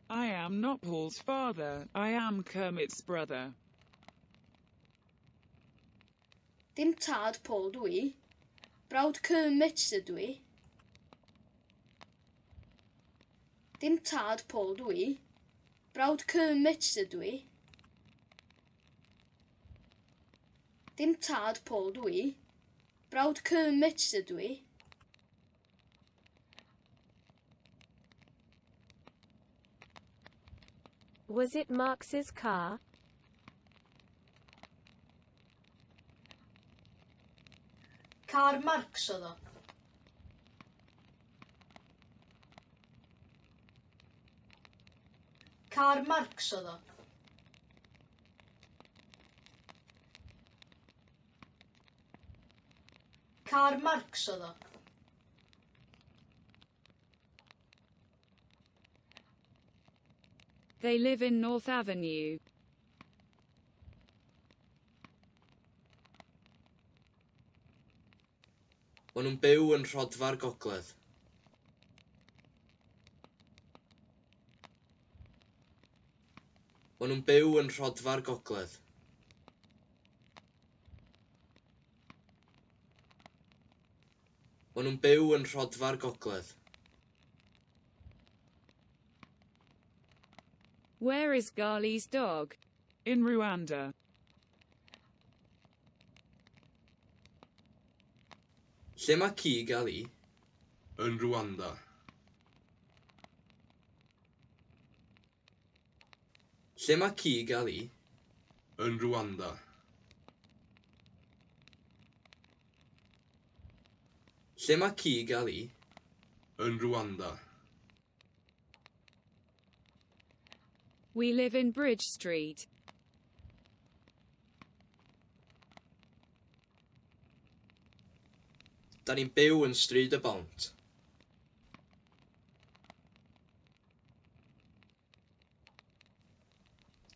I am not Paul's father, I am Kermit's brother. Dim tad Paul dw i. Brawd Kermit ydw i. Dim tad Paul dw i. Brawd Kermit ydw i. Dim tad Paul dw i. Brawd Kermit ydw i. Was it Marx's car? Car Marx oedd o. Car Marx oedd o. Karl Marx oedd o. They live in North Avenue. Maen nhw'n byw yn Rhodfa'r Gogledd. Maen nhw'n byw yn Rhodfa'r Gogledd. Maen nhw'n byw yn Rhodfa'r Gogledd. Where is Gali's dog? In Rwanda. Lle mae ci Gali? Yn Rwanda. Lle mae Kigali? Yn Rwanda. Lle mae Kigali? Yn Rwanda. We live in Bridge Street. Da ni'n byw yn Stryd y Bont.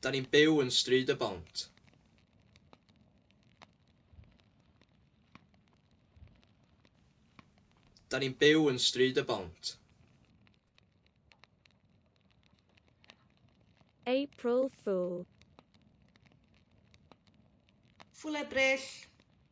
Da ni'n byw yn stryd y bont. Da ni'n byw yn stryd y bont. April Fool. Full Ebrill.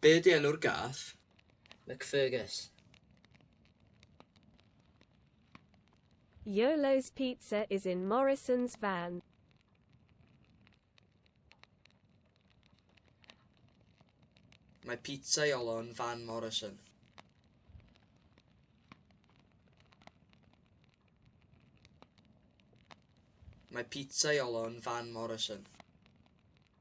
Be ydi enw'r gath? McFergus. Yolo's pizza is in Morrison's van. Mae pizza Iolo yn fan Morrison. Mae pizza Iolo yn fan Morrison.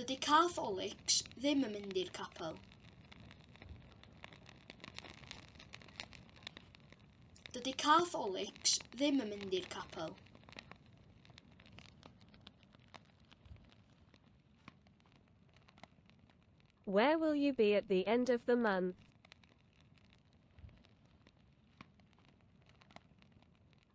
Dydy cath Olix ddim yn mynd i'r capel. Dydy cath Olix ddim yn mynd i'r capel. Where will you be at the end of the month?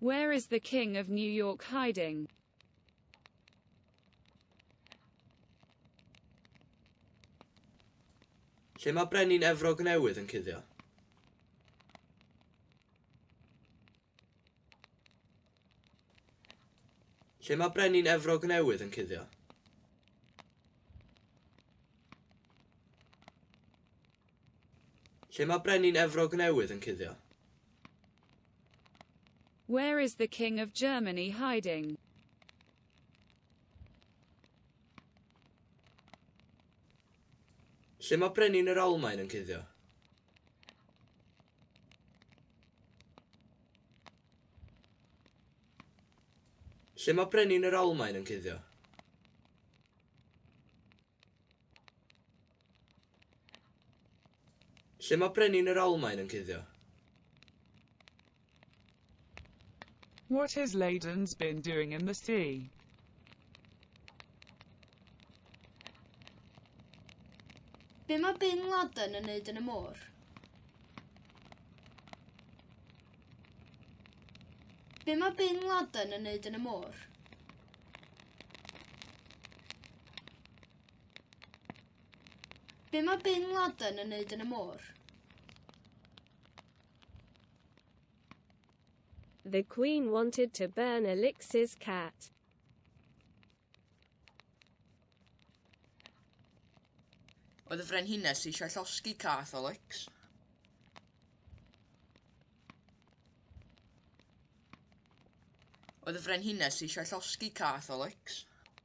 Where is the King of New York hiding? Lle mae Brenin Efrog Newydd yn cuddio? Lle mae Brenin Efrog Newydd yn cuddio? Lle mae brenin Efrog Newydd yn cuddio? Where is the king of Germany hiding? Lle mae brenin yr Almaen yn cuddio? Lle mae brenin yr Almaen yn cuddio? Lle mae Brenin yr Almaen yn cuddio? What has Leyden's been doing in the sea? Be mae Bin Laden yn neud yn y môr? Be mae Bin Laden yn neud yn y môr? Be mae Bin Laden yn neud yn y môr? The Queen wanted to burn Alix's cat. Oedd y frenhines eisiau llosgi cath Alex. Oedd y frenhines eisiau llosgi cath Alex.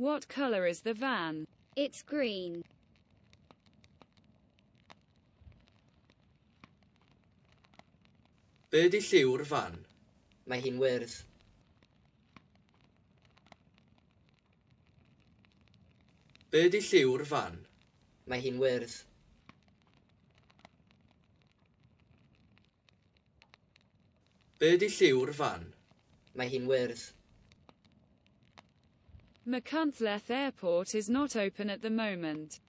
What colour is the van? It's green. Be ydi lliw'r fan? Mae hi'n wyrdd. Be ydi lliw'r fan? Mae hi'n wyrdd. Be ydi lliw'r fan? Mae hi'n wyrdd. Machynlleth Airport is not open at the moment.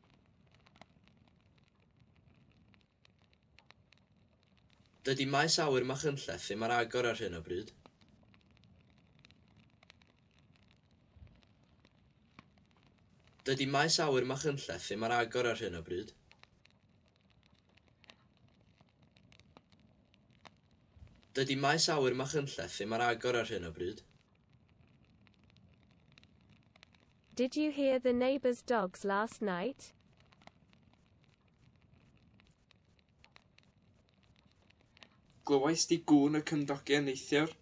Dydi maes awyr Machynlleth ddim ar agor ar hyn o bryd. Dydi maes awyr Machynlleth ddim ar agor ar hyn o bryd. Dydy maes awyr Machynlleth ddim ar agor ar hyn o bryd. Did you hear the neighbour's dogs last night? Glywais di gŵn y cymdogion neithiwr?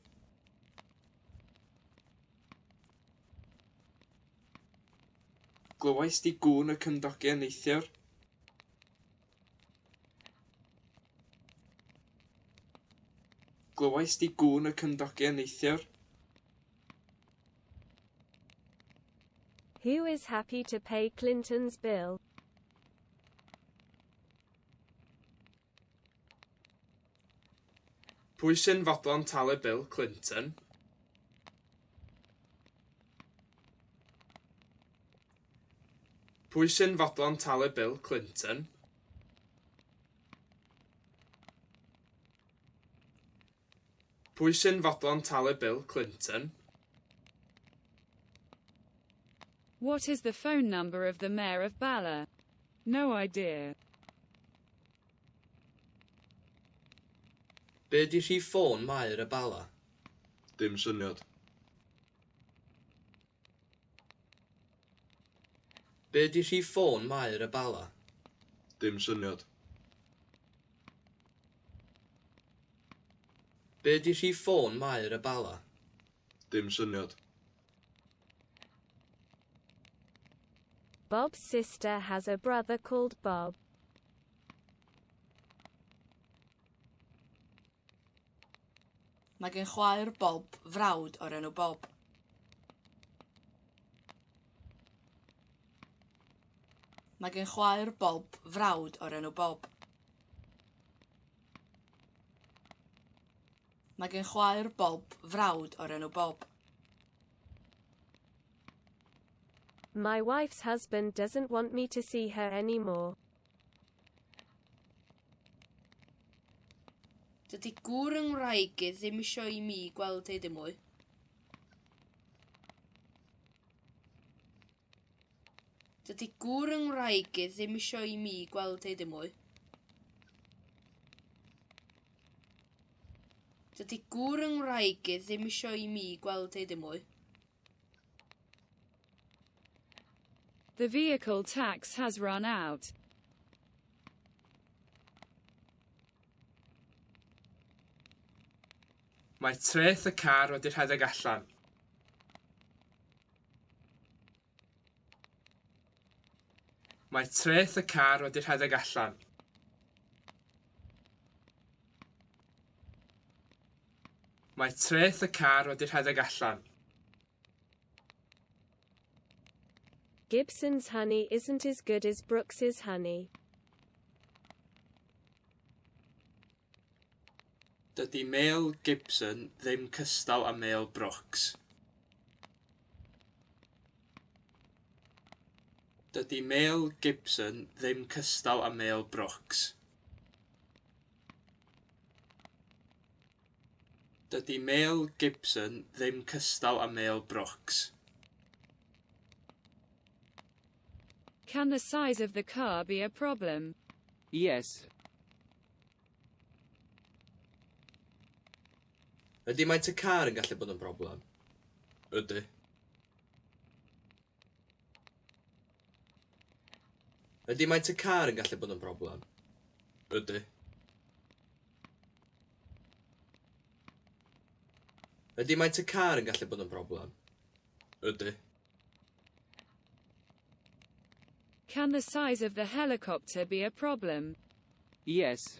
Glywais di gŵn y cymdogion neithiwr? Glywais di gŵn y cymdogion neithiwr? Who is happy to pay Clinton's bill? Pwy sy'n fodlon talu bil Clinton? Pwy sy'n fodlon talu bil Clinton? Pwy sy'n fodlon talu bil Clinton? What is the phone number of the mayor of Bala? No idea. Be di rhif ffôn maer y Bala? Dim syniad. Be di rhif ffôn Mair y Bala? Dim syniad. Be di rhif ffôn Mair y Bala? Dim syniad. Bob's sister has a brother called Bob. Mae gen chwaer Bob frawd o'r enw Bob. Mae gen chwaer Bob frawd o'r enw Bob. Mae gen chwaer Bob frawd o'r enw Bob. My wife's husband doesn't want me to see her anymore. Dydy gŵr yng Ngwraig i ddim eisiau i mi gweld ei ddim mwy. Dydy gŵr yng Ngwraig i ddim eisiau i mi gweld ei ddim mwy. Dydy gŵr yng Ngwraig i ddim eisiau i mi gweld ei ddim mwy. The vehicle tax has run out. Mae treth y car wedi rhedeg allan. Mae treth y car wedi rhedeg allan. Mae treth y car wedi rhedeg allan. Gibson's honey isn't as good as Brooks's honey. Dydy mêl Gibson ddim cystal â mêl Brooks. Dydy mêl Gibson ddim cystal â mêl Brooks. Dydy Mel Gibson ddim cystal â Mel Brooks. Can the size of the car be a problem? Yes. Ydy maint y car yn gallu bod yn broblem? Ydy. Ydy, mae tŷ car yn gallu bod yn broblem. Ydy. Ydy, mae tŷ car yn gallu bod yn broblem. Ydy. Can the size of the helicopter be a problem? Yes.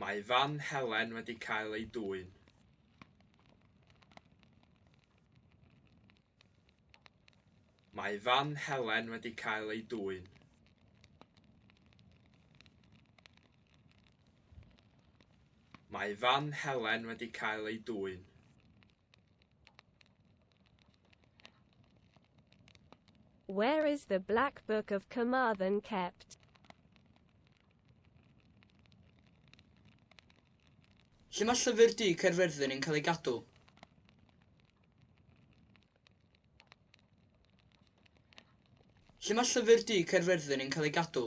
Mae fan Helen wedi cael ei dwyn. Mae fan Helen wedi cael ei dwyn. Mae fan Helen wedi cael ei dwyn. Where is the Black Book of Carmarthen kept? Lle mae Llyfr Du Caerfyrddin yn cael ei gadw? Lle mae Llyfr Du Caerfyrddin yn cael ei gadw?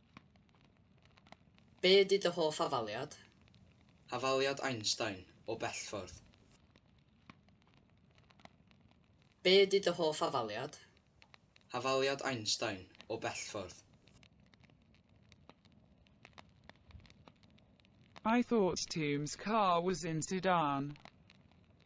Be ydy dy hoff afaliad? Hafaliad Einstein, o bell ffordd. Be ydy dy hoff afaliad? Hafaliad Einstein, o bell ffordd. I thought Tomb's car was in Sudan.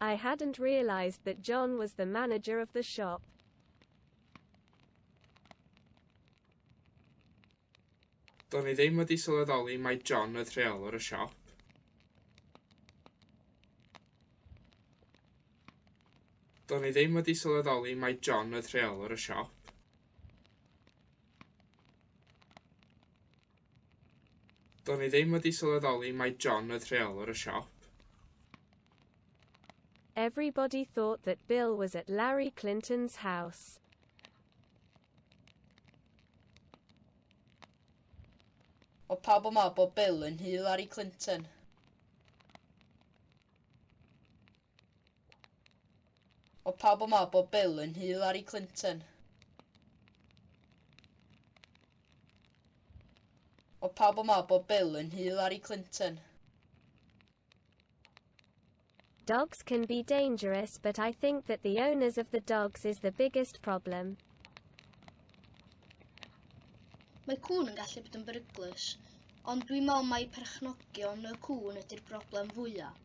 I hadn't realised that John was the manager of the shop. Do'n i ddim wedi sylweddoli mai John oedd rheolwr y siop. Do'n i ddim wedi sylweddoli mai John oedd rheolwr y siop. Do'n i ddim wedi sylweddoli mai John oedd rheolwr y siop. Everybody thought that Bill was at Larry Clinton's house. Oedd pawb yn meddwl bod Bill yn nhŷ Larry Clinton. Oedd pawb yn meddwl bod Bill yn nhŷ Larry Clinton. O pawb yn meddwl bod Bill yn Hilary Clinton. Dogs can be dangerous but I think that the owners of the dogs is the biggest problem. Mae cŵn yn gallu bod yn beryglus, ond dwi'n meddwl mai perchnogion y cŵn ydy'r broblem fwyaf.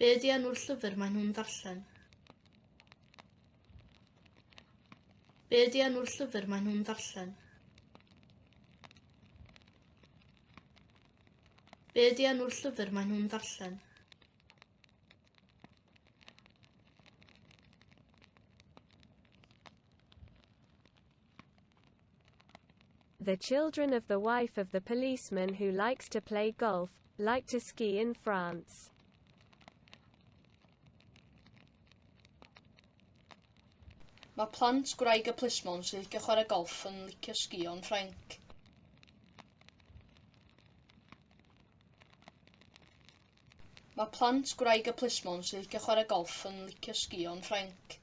Be ydy enw'r llyfr maen nhw'n ddarllen? Be ydy enw'r llyfr maen nhw'n ddarllen? Be ydy enw'r llyfr maen nhw'n ddarllen? The children of the wife of the policeman who likes to play golf, like to ski in France. Mae plant gwraig y plismon sy'n licio chwarae golff yn licio sgio yn Ffrainc. Mae plant gwraig y plismon sy'n licio chwarae golff yn licio sgio yn Ffrainc.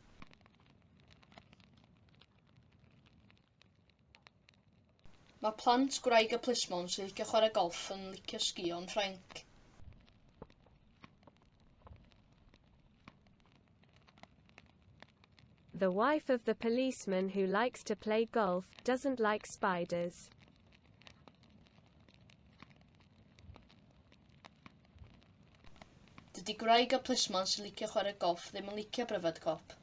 Mae plant gwraig y plismon sy'n licio chwarae golff yn licio sgio yn Ffrainc. The wife of the policeman who likes to play golf doesn't like spiders. Dydy gwraig y plismon sy'n licio chwarae golff ddim yn licio pryfed cop.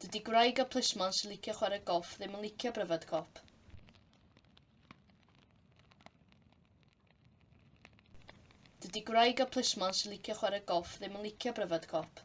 Dydy gwraig a plismon sy'n licio chwarae golff ddim yn licio bryfed cop. Dydy gwraig a plismon sy'n licio chwarae golff ddim yn licio bryfed cop.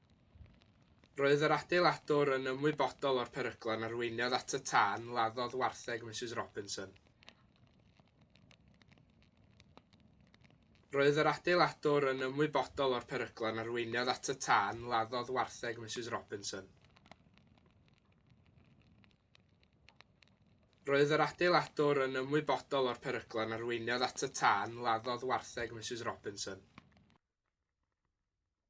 Roedd yr adeiladwr yn ymwybodol o'r peryglon arweiniodd at y tân, laddodd wartheg Misus Robinson. Roedd yr adeiladwr yn ymwybodol o'r peryglon arweiniodd at y tân, laddodd wartheg Misus Robinson. Roedd yr adeiladwr yn ymwybodol o'r peryglon arweiniodd at y tân, laddodd wartheg Misus Robinson.